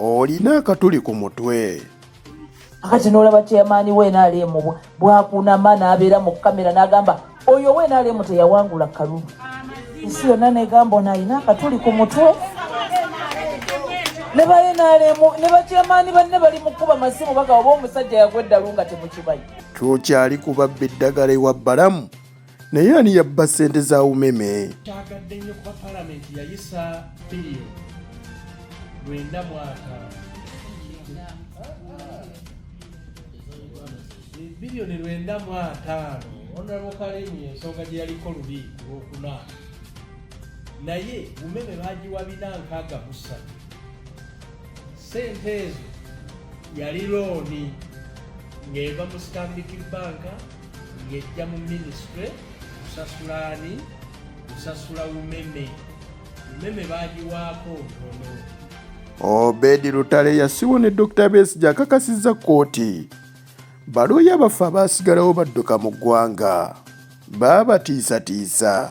olina akatuli ku mutwe akati nolaba chairman we nrm bwakunama nabeera mu kamera nagamba oyo we nrm teyawangula kalulu ensi yonna negamba ono alina akatuli ku mutwe ne ba nrm ne bachairman banne bali mukuba masimu bagaba oba omusajja yagwa eddalu nga temukimanyi tukyali kubabba eddagala ewa balamu naye ani yabba ssente za umeme kyagadde nnyo kuba palamenti yayisa biliyo lwenda mwaka biliyoni lwenda mu ataano onalabo kalimu ensonga gye yaliko lubi lwokuna naye umeme bagiwa bina nkaaga musatu sente ezo yali looni ng'eva mu stanbic banka ng'ejja mu minisitule kusasula ani kusasula umeme umeme bagiwaako ntono obedi lutale yasiwo ne dr besi gyakakasizza kkooti baluuya baffe abaasigalawo badduka mu ggwanga baabatiisatiisa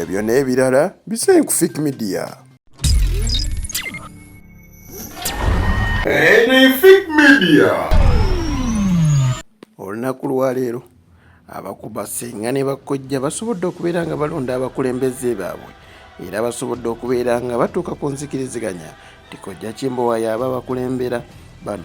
ebyo n'ebirala bisaye ku fik media olunaku lwaleero abakuba senga ne bakkojja basobodde okubeera nga balonda abakulembeze baabwe era basobodde okubeera nga batuuka ku nzikiriziganya tikojja kimbowa yaaba bakulembera bano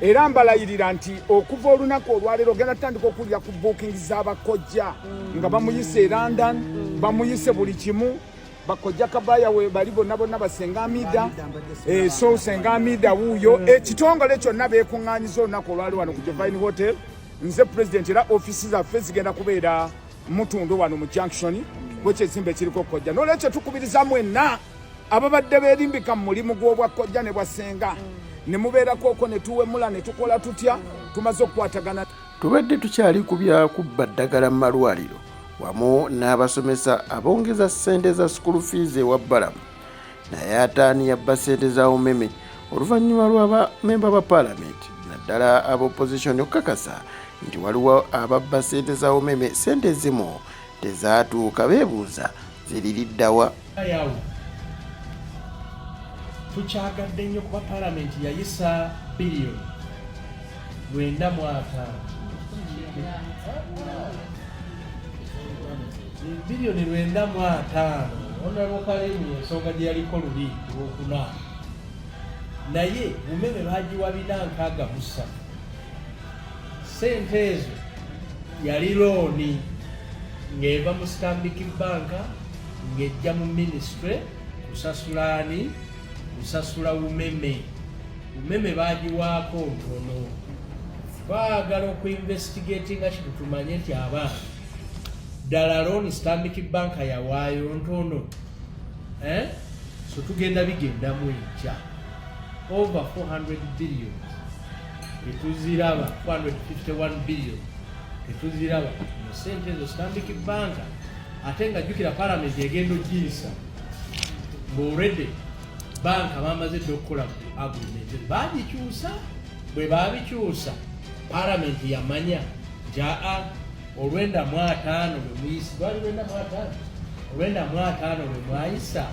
era mbalayirira nti okuva olunaku olwaleero ogenda tutandika okuwulira ku booking z'abakojja mm. nga bamuyise e london mm. bamuyise buli kimu bakojja kabaya we bali bonna bonna basenga amida eh, so senga amida wuuyo mm. ekitongole kyonna beekuŋŋanyiza olunaku olwali wano ku jovine hotel nze president era ofisi zaffe zigenda kubeera mutundu wano mu junction gwekyezimba ekiriko kojja nolwekyo tukubiriza mwenna ababadde berimbika mu mulimu gw'obwakkojja ne bwasenga ne mubeerako okwo ne tuwemula ne tukola tutya tumaze okukwatagana tubadde tukyali ku bya kubba ddagala mu malwaliro wamu n'abasomesa abongeza ssente za school fees ewa balamu naye ataani yabba ssente za umeme oluvannyuma lwa bamemba ba paalamenti naddala aba opposition okukakasa nti waliwo ababba ssente za umeme ssente ezimu Tezaatuuka beebuuza ziri lidda wa? Tukyagadde nnyo kuba palamenti yayisa biliyoni lwenda mu ataano biliyoni lwenda mu ataano onalwokalimu ensonga gye yaliko luli lwokuna naye umeme bagiwa bina nkaaga musa Ssente ezo yali looni ng'eva mu Stanbic bbanka ng'ejja mu minisitule kusasula ani kusasula umeme umeme bagiwaako ntono twagala okuinvestigatinga kino tumanye nti abaana ddala looni Stanbic bbanka yawaayo ntono eh? so tugenda bigendamu enkya over 400 billion tetuziraba 451 billion tetuziraba mu sente ezo Stanbic Bank ate nga jjukira palamenti egenda ojiyisa ng'olredde banka bamaze dde okukola agreement bagikyusa bwe babikyusa palamenti yamanya nti aa olwenda mu ataano lwe muyisa lwali lwenda mu ataano olwenda mu ataano lwe mwayisa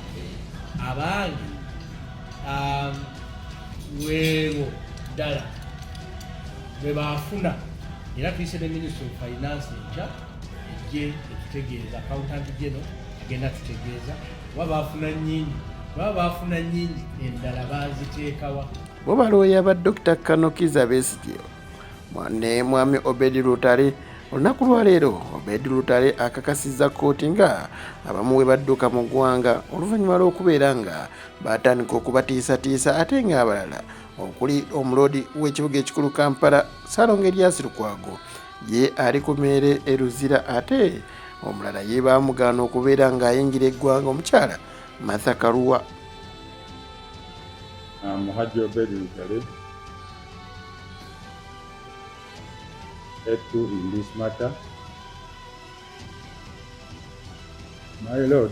abange um, webo ddala bwebafuna era tuyise ne ministry of finance enkya ejje etutegeeza accountant geno agenda tutegeeza kuba bafuna nyingi kuba bafuna nyingi endala baziteekawa bo balooya ba dr kanokiza besigye ne mwami obedi lutale olunaku lwaleero obedi lutale akakasizza kkooti nga abamu we badduka mu ggwanga oluvannyuma lw'okubeera nga baatandika okubatiisatiisa ate ng'abalala okuli omuloodi w'ekibuga ekikulu kampala salonga eryasi lukwago ye ali ku meere e luzira ate omulala ye baamugaana okubeera ng'ayingira eggwanga omukyala matha kaluwa ah, muhaji obedi lugale etu in this matter my lord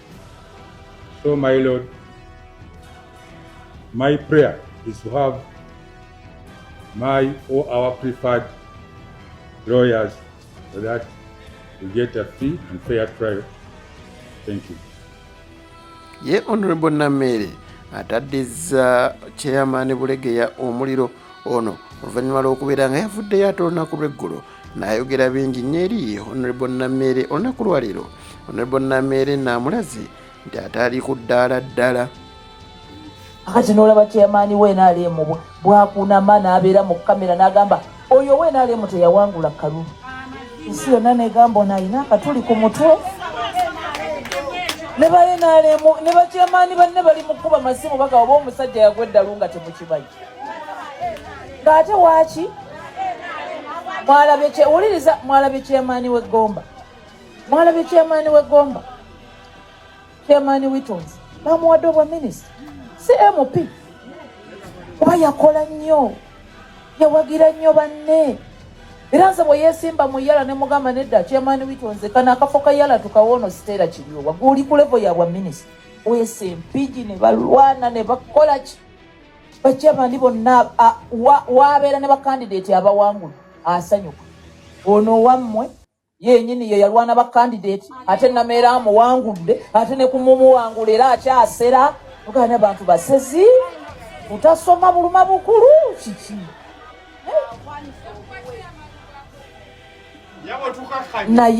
So my Lord, my prayer is to have my or our preferred lawyers so that we get a free and fair trial. Thank you. Ye Honorable Namere ataddizza chairman Bulegeya omuliro ono oluvannyuma lw'okubeera nga yavuddeyo ate olunaku lw'eggulo nayogera bingi nnyo eri honorable nameere olunaku lwaleero honorable nameere naamulaze nti ataali ku ddaala ddala akati noolaba kyeyamaani we nrm bwakunama n'abeera mu kamera n'agamba oyo we nrm teyawangula kalulu ensi yonna negamba ono alina akatuli ku mutwe ne baye nrm ne bakyamaani banne bali mu kkuba masimu bagawa ba omusajja yagwa eddalu nga temukimanyi ng'ate waaki mwalabewuliriza mwalabye kyemaani wegomba mwalabye kyemaani wegomba kyemaani witons bamuwadde obwa minisita si mp kuba yakola nnyo yawagira nnyo banne era nze bwe yeesimba mu yala ne mugamba nedda kyemaani witonze kana akafo ka yala tukawoono siteera kiryowa guli ku levo yabwa minisita weese mpigi ne balwana ne bakola ki bakyabandi bonna wabeera ne bakandidate abawangula asanyuka ono wammwe yenyini ye yalwana bakandidate ate nameera amuwangudde ate ne kumumuwangula era akyasera ogana bantu basezi utasoma buluma bukulu kiki naye